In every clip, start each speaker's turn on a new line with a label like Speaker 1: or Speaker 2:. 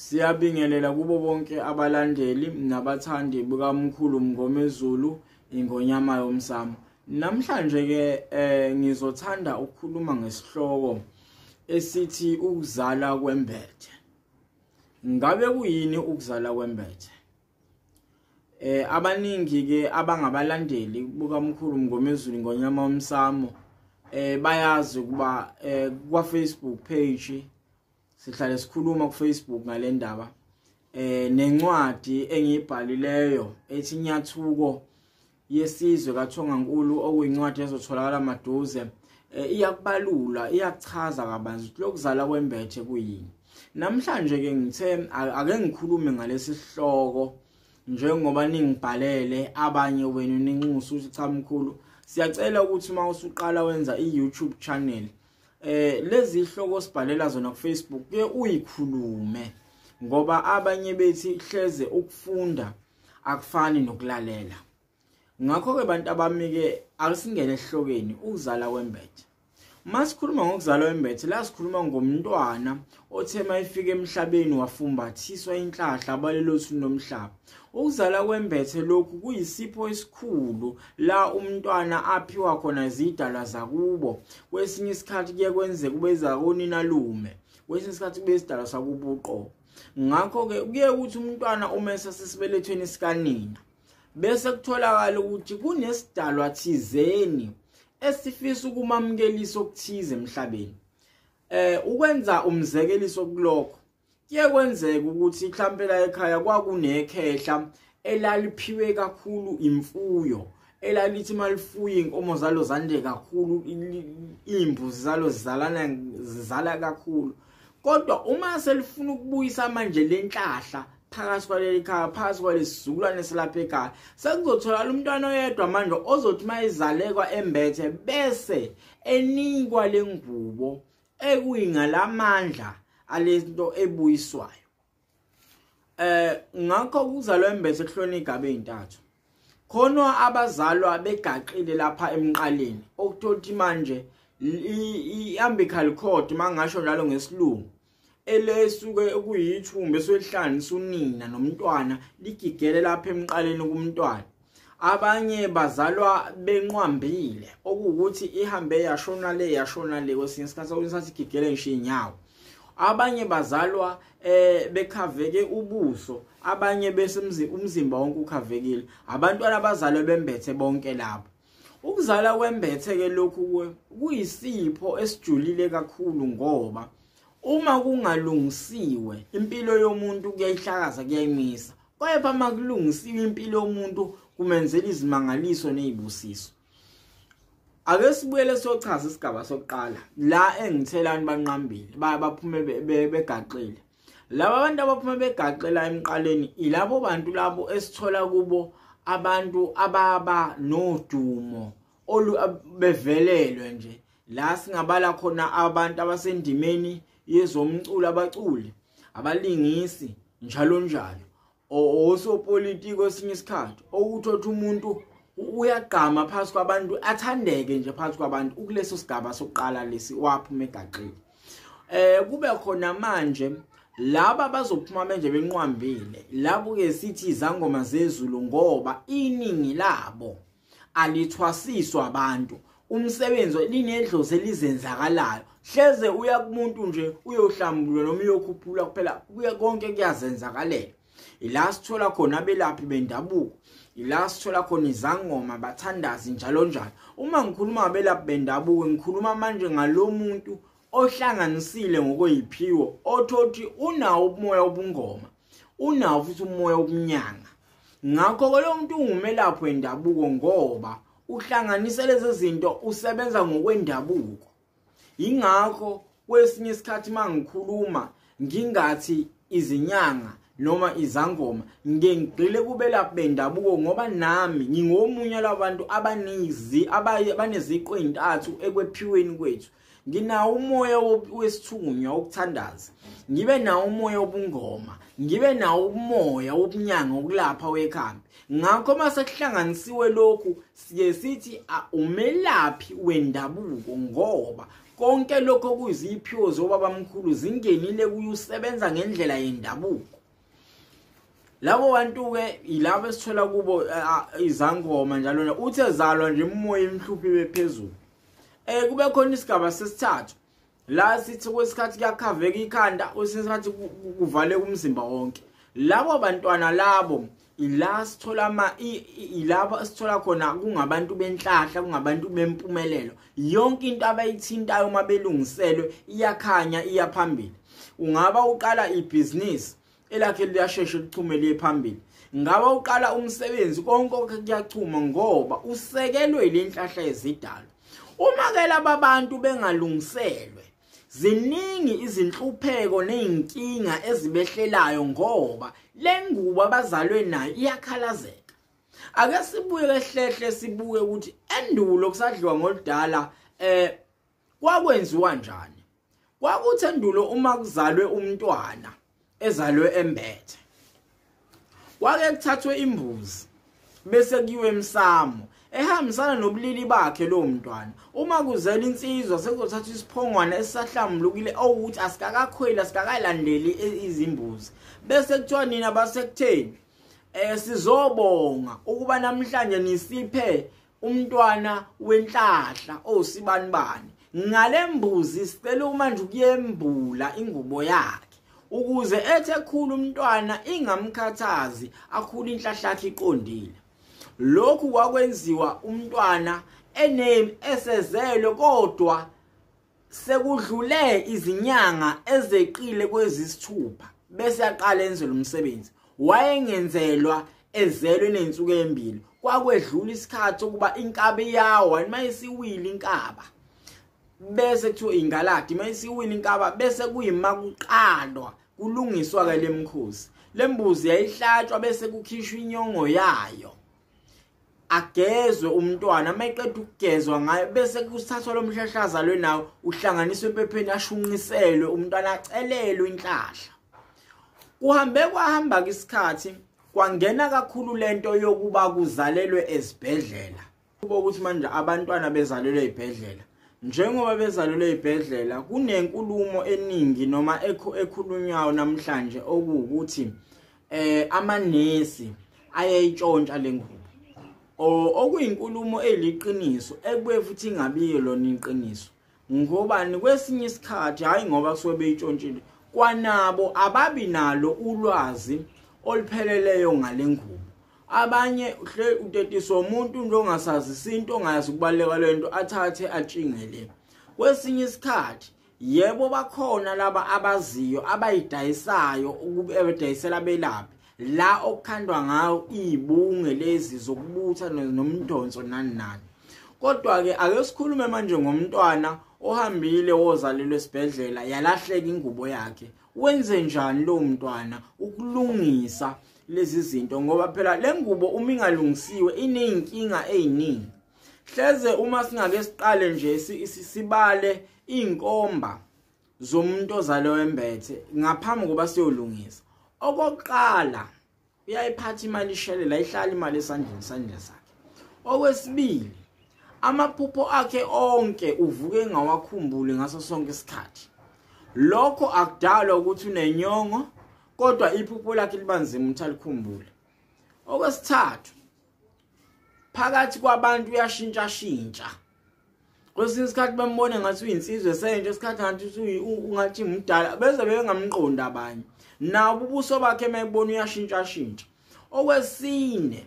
Speaker 1: Siyabingelela kubo bonke abalandeli nabathandi bukamkhulu Mngomezulu ingonyama yomsamo. Namhlanje ke eh ngizothanda ukukhuluma ngesihloko esithi ukuzala kwembethe. Ngabe kuyini ukuzala kwembethe? Eh abaningi ke abangabalandeli bukamkhulu Mngomezulu ingonyama yomsamo eh bayazi ukuba eh kwa Facebook page sihlale sikhuluma ku Facebook ngalendaba eh nencwadi engiyibhalileyo ethi nyathuko yesizwe kaThongankulu okuyincwadi ezotholakala maduze eh, iyakubalula iyakuchaza kabanzi ukuthi lokuzala kwembethe kuyini namhlanje ke ngithe ake ngikhulume ngalesi sihloko njengoba ningibhalele abanye wenu ninxusa ukuthi cha mkhulu siyacela ukuthi uma usuqala wenza i-YouTube channel eh lezi ihloko sibhalela zona ku Facebook ke uyikhulume ngoba abanye bethi hleze ukufunda akufani nokulalela ngakho ke bantu abamike akusingene ehlokeni ukuzala kwembethe masikhuluma ngokuzala kwembethe la sikhuluma ngomntwana othe mayifika emhlabeni wafumbathiswa inhlahla balelothu nomhlaba ukuzala kwembethe lokhu kuyisipho esikhulu la umntwana aphiwa khona zidalwa zakubo kwesinye isikhathi kuye kwenzeka ubeza konina lume kwesinye isikhathi kube isidalwa sakubuqobo ngakho-ke kuye ukuthi umntwana uma esasesibelethweni sikanina bese kutholakala ukuthi kunesidalwa thizeni esifisa ukumamkelisa okuthize emhlabeni eh ukwenza umzekeliso kulokho kuye kwenzeka ukuthi ihlampela ekhaya kwakunekhehla elaliphiwe kakhulu imfuyo elalithi malifuye inkomo zalo zande kakhulu imbuzi zalo zizalana zizala kakhulu kodwa uma selifuna ukubuyisa manje lenhlahla phakathi kwaleli khaya phakathi kwalesizukulwane silapha ekhaya sekuzotholakala umntwana oyedwa manje ozothi uma izalekwa embethe bese enikwa le ngubo ekuyingalamandla alento ebuyiswayo eh ngakho kuzalwa embethe kuhlona igaba ezintathu khona abazalwa begaqile lapha emqaleni okuthothi manje iambical cord mangasho njalo ngesilungu elesuke kuyithumbe sohlanisa unina nomntwana ligigele lapha emqaleni kumntwana abanye bazalwa benqwambile okuwukuthi ihambe yashona le yashona le kwesinye isikhathi okusathi igigele ngisho inyawo abanye bazalwa eh bekhaveke ubuso abanye bese umzimba wonke ukhavekile abantwana abazalwe bembethe bonke labo Ukuzala kwembethe ke lokhu kuyisipho esijulile kakhulu ngoba uma kungalungisiwe impilo yomuntu kuyayihlakaza kuyayimisa kepha uma kulungisiwe impilo yomuntu kumenzela izimangaliso nezibusiso ake sibuyele sochaza isigaba sokuqala la engithelani banqambile baphuma begaxile laba bantu abaphuma begaqela emqaleni ilabo bantu labo esithola kubo abantu ababa nodumo olu bevelelwe nje la singabala khona abantu abasendimeni yezomculo abaculi abalingisi njalo njalo osopolitiki osinye isikhathi okuthotha umuntu uyagqama phansi kwabantu athandeke nje phansi kwabantu ukuleso sigaba sokuqala lesi waphuma egaqile eh kube khona manje laba bazophuma manje benqwambile labo ke sithi izangoma zezulu ngoba iningi labo alithwasiswa abantu umsebenzi linedlozi elizenzakalayo hleze uya kumuntu nje uyohlambulula noma uyokhuphula kuphela kuya konke kuyazenzakalela ila sithola khona abelaphi bendabuko ila sithola khona izangoma bathandazi njalo njalo uma ngikhuluma abelaphi bendabuko ngikhuluma manje ngalomuntu ohlanganisile ngokweyiphiwo othothi unawo ubumoya obungoma unawo futhi umoya wokunyanga ngakho ke lo muntu ungumelaphi wendabuko ngoba uhlanganisa lezi zinto usebenza ngokwendabuko yingakho kwesinye isikhathi uma ngikhuluma ngingathi izinyanga noma izangoma ngengigqile kubelaphi bendabuko ngoba nami ngingomunye labantu abanizi abaneziqo ezintathu ekwephiweni kwethu nginawo umoya wesithunywa wokuthandaza ngibe nawo umoya wobungoma ngibe nawo umoya wobunyanga wokulapha wekhambi ngakho uma sekuhlanganisiwe lokhu siye sithi umelaphi wendabuko ngoba konke lokho kuyiziphiwo zobabamkhulu zingenile kuye usebenza ngendlela yendabuko labo bantu-ke yilabo esithola kubo izangoma njalo uthe zalwa nje umoya emhluphi bephezulu Eh kube khona isigaba sesithathu la sithi kwesikhathi kuyakhaveka ikhanda kwesikhathi kuvaleka umzimba wonke labo bantwana labo ila sithola ama ilaba sithola khona kungabantu benhlahla kungabantu bempumelelo yonke into abayithintayo uma belungiselwe iyakhanya iyaphambili ungaba uqala ibhizinisi elakhe liyasheshe lichume liye phambili ngaba uqala umsebenzi konke okhe kuyachuma ngoba usekelwe ilenhlahla yezidalo uma ke laba bantu bengalungiselwe ziningi izinhlupheko nezinkinga ezibehlelayo ngoba lengubo abazalwe nayo iyakhalazeka ake sibuye ehlehle sibuke ukuthi endulo kusadliwa ngoludala eh Kwakwenziwa njani? Kwakuthi endulo uma kuzalwe umntwana ezalwe embethe. Kwake kuthathwe imbuzi bese kuyiwe emsamo ehambisana nobulili bakhe lo mntwana uma kuzela insizwa sekuzothatha isiphongwana esisahlambulukile owukuthi asikakakhweli asikakalandeli izimbuzi bese kuthiwa nina basekutheni eh sizobonga ukuba namhlanje nisiphe umntwana wenhlahla osibanibani ngalembuzi sicela manje ukuyembula ingubo yakhe ukuze ethe khulu umntwana ingamkhathazi akhule inhlahlakhe iqondile lokhu kwakwenziwa umntwana ename esezelwe kodwa sekudlule izinyanga ezeqile kwezisithupha bese yaqala enzelwe umsebenzi wayengenzelwa ezelwe nensuku embili kwakwedlula isikhathi ukuba inkabi yawo uma isiwile inkaba bese kuthiwa ingaladi uma isiwile inkaba bese kuyima kuqalwa kulungiswa-ke le mkhosi le mbuzi yayihlatshwa bese kukhishwa inyongo yayo agezwe umntwana uma eqeda ukugezwa ngayo bese kusithathwa lo mhlahla lwe nawo uhlanganiswe empepheni ashunqiselwe umntwana acelelwe inhlahla kuhambe kwahamba isikhathi kwangena kakhulu lento yokuba kuzalelwe ezibhedlela kuba ukuthi manje abantwana bezalelwe ezibhedlela njengoba bezalelwe ezibhedlela kunenkulumo eningi noma ekhulunywayo namhlanje okuwukuthi eh amanesi ayayitshontsha lengubo okuyinkulumo eliqiniso ekube futhi ingabiyo lona iqiniso ngobani kwesinye isikhathi hayi ngoba kusuke beyitshontshile kwanabo ababi nalo ulwazi olupheleleyo ngalengubo abanye uhle utetiswa umuntu into ongasazi isinto ongayazi ukubaleka lento athathe atshingele kwesinye isikhathi yebo bakhona laba abaziyo abayidayisayo ukubedayisela abelaphi la okukhandwa ngayo izibunge lezi zokubutha nomdonso nani nani kodwa ke ake sikhulume manje ngomntwana ohambile wozalelwe esibhedlela yalahleka ingubo yakhe wenze njani lo mntwana ukulungisa lezi zinto ngoba phela lengubo uma ingalungisiwe ineyinkinga eziningi hleze uma singake siqale nje sibale inkomba zomuntu ozale wembethe ngaphambi kokuba siyolungisa okokuqala uyayiphatha imali ishelela ihlala imali esandleni sandleni sakhe okwesibili amaphupho akhe onke uvuke ngawakhumbuli ngaso sonke isikhathi lokho akudalwa ukuthi unenyongo kodwa iphupho lakhe libanzima ukuthi alikhumbule okwesithathu phakathi kwabantu uyashintsha shintsha kwesinye isikhathi bambone ngathi uyinsizwe esentsha isikhathi ngathi ungathi mdala beze bengamqondi abanye nawo ubuso bakhe mayibona uyashintsha shintsha okwesine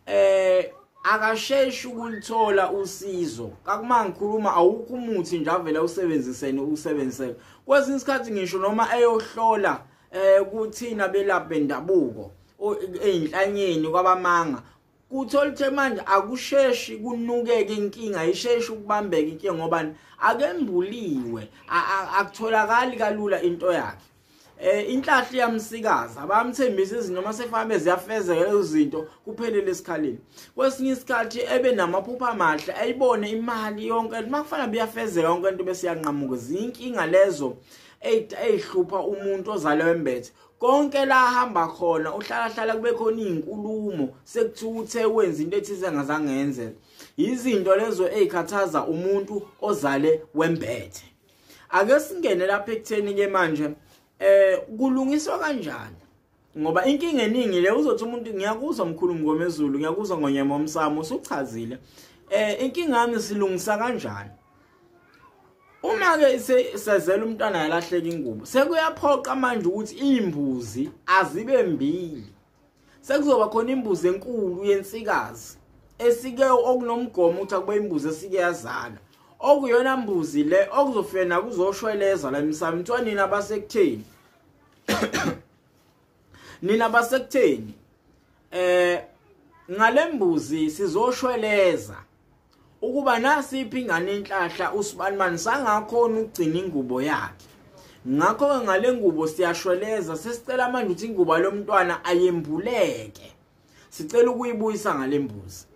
Speaker 1: eh akasheshi ukulithola usizo kakumangikhuluma awukho umuthi nje avele usebenzisene usebenziseke kwesinye isikhathi ngisho noma eyohlola eh kuthina belaphi bendabuko einhlanyeni kwabamanga kuthola ukuthi manje akusheshi kunukeke inkinga isheshi ukubambeka inkinga ngoba akembuliwe akutholakali kalula into yakhe eh inhlahli yamsikaza bamthembisa izinto uma sefambe ziyafezeka lezo zinto kuphelele esikhaleni kwesinye isikhathi ebe namaphupha amahle ayibone imali yonke uma kufanele buyafezeka yonke into bese yanqamuka zinkinga lezo eyihlupha umuntu ozalwe wembethe konke la hamba khona uhlala hlala kube khona izinkulumo sekuthiwa uthe wenza into ethize engazange yenzeke izinto lezo ezikhathaza umuntu ozale wembethe ake singene lapha ekutheni ke manje eh kulungiswa kanjani ngoba inkinga eningi le uzothi umuntu ngiyakuzwa mkhulu mngomezulu ngiyakuzwa ngonyama omsamo usuchazile eh inkinga yami silungisa kanjani uma ke sezela umntwana yalahleka ingubo sekuyaphoqa manje ukuthi imbuzi azibe mbili sekuzoba khona imbuzi enkulu yensikazi esike okunomgomo ukuthi akube imbuzi esike yazala okuyona mbuzi le okuzofika nakuzoshweleza la emsamo mntwanini abasekutheni nina basekutheni eh ngalembuzi sizoshweleza ukuba nasiphi ingane inhlahla usibanimani sangakhona ukugcina ingubo yakhe ngakho-ke ngale ngubo siyashweleza sesicela manje ukuthi ingubo lomntwana ayembuleke sicela ukuyibuyisa ngalembuzi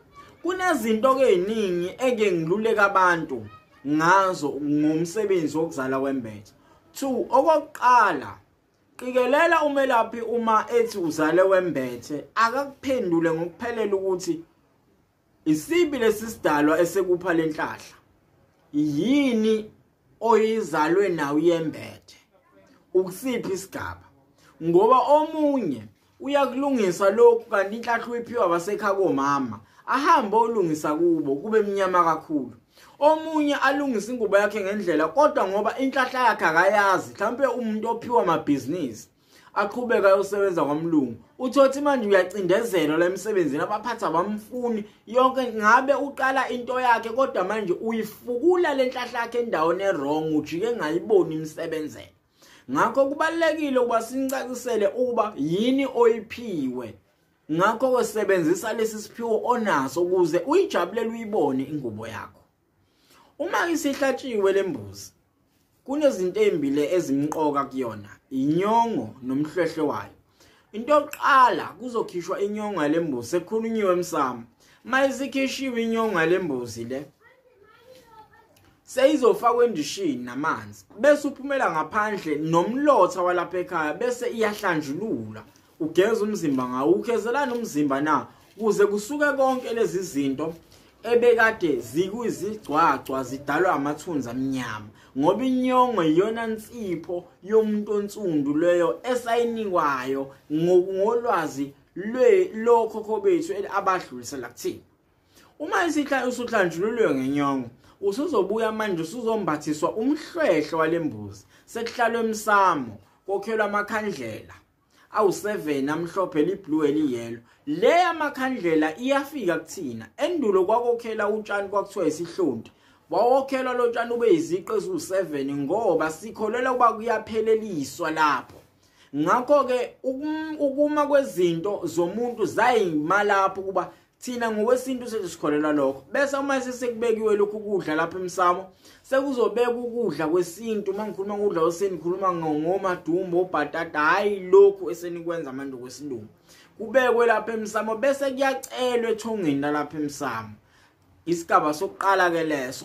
Speaker 1: kunezinto ke eziningi eke ngiluleka abantu ngazo ngomsebenzi wokuzala wembethe 2 okokuqala qikelela umelaphi uma ethi uzale wembethe akakuphendule ngokuphelela ukuthi isibi lesisidalwa esekupha lenhlahla yini oyizalwe nawo yembethe ukusiphi isigaba ngoba omunye uyakulungisa lokhu kanti inhlahla uyiphiwa abasekhaya komama ahambe olungisa kubo kube mnyama kakhulu omunye alungisa ingubo yakhe ngendlela kodwa ngoba inhlahla yakhe akayazi mhlawumbe umuntu ophiwa amabhizinisi aqhubeka ayosebenza kwamlungu uthothi manje uyacindezelwa la emsebenzini abaphathi abamfuni yonke ngabe uqala into yakhe kodwa manje uyifukula le nhlahla yakhe endaweni erong ujike ngayiboni imsebenzela ngakho kubalulekile ukuba sinicacisele ukuba yini oyiphiwe ngakho kwesebenzisa lesi siphiwo onaso ukuze uyijabulele uyibone ingubo yakho Uma isihlatshiwe lembuzi kunezinto ezimbili ezimqoka kuyona inyongo nomhlwehle wayo. Into yokuqala kuzokhishwa inyongo lembuzi ekhulunyiwe emsamo. Mayisikhishiwe inyongo lembuzi le seyizofakwa endishini namanzi bese uphumela ngaphandle nomlotha walapha ekhaya bese iyahlanjululwa ugeza umzimba ngawo ugezelani umzimba na kuze kusuke konke lezi zinto ebekade zikuzigcwagcwa zidalwa amathunzi amnyama ngoba inyongo iyona nsipho yomuntu onsundu leyo esayinikwayo ngolwazi lokho kobethu abadlulisela kuthina uma isihla usuhlanjululwe ngenyongo usuzobuya manje usuzombathiswa umhlwehle walembuzi sekuhlalwe emsamo kokhelwa amakhandlela awu 7 amhlophe liblue eliyelo le yamakhandlela iyafika kuthina endulo kwakokhela utshani kwakuthiwa isihlonti wawokhelwa lo tshani ube iziqe eziwu-7 ngoba sikholelwa ukuba kuyapheleliswa lapho ngakho-ke ukuma kwezinto zomuntu zayimalapho ukuba thina ngokwesintu sethu sikholelwa lokho bese uma sesekubekiwe lokhu kudla lapha emsamo sekuzobeka ukudla kwesintu uma ngikhuluma ngokudla kwesintu ngikhuluma ngomadumbu obhatata hhayi lokhu esenikwenza manje kwesilungu kubekwe lapha emsamo bese kuyacelwa ethongeni lalapha emsamo isigaba sokuqala-ke leso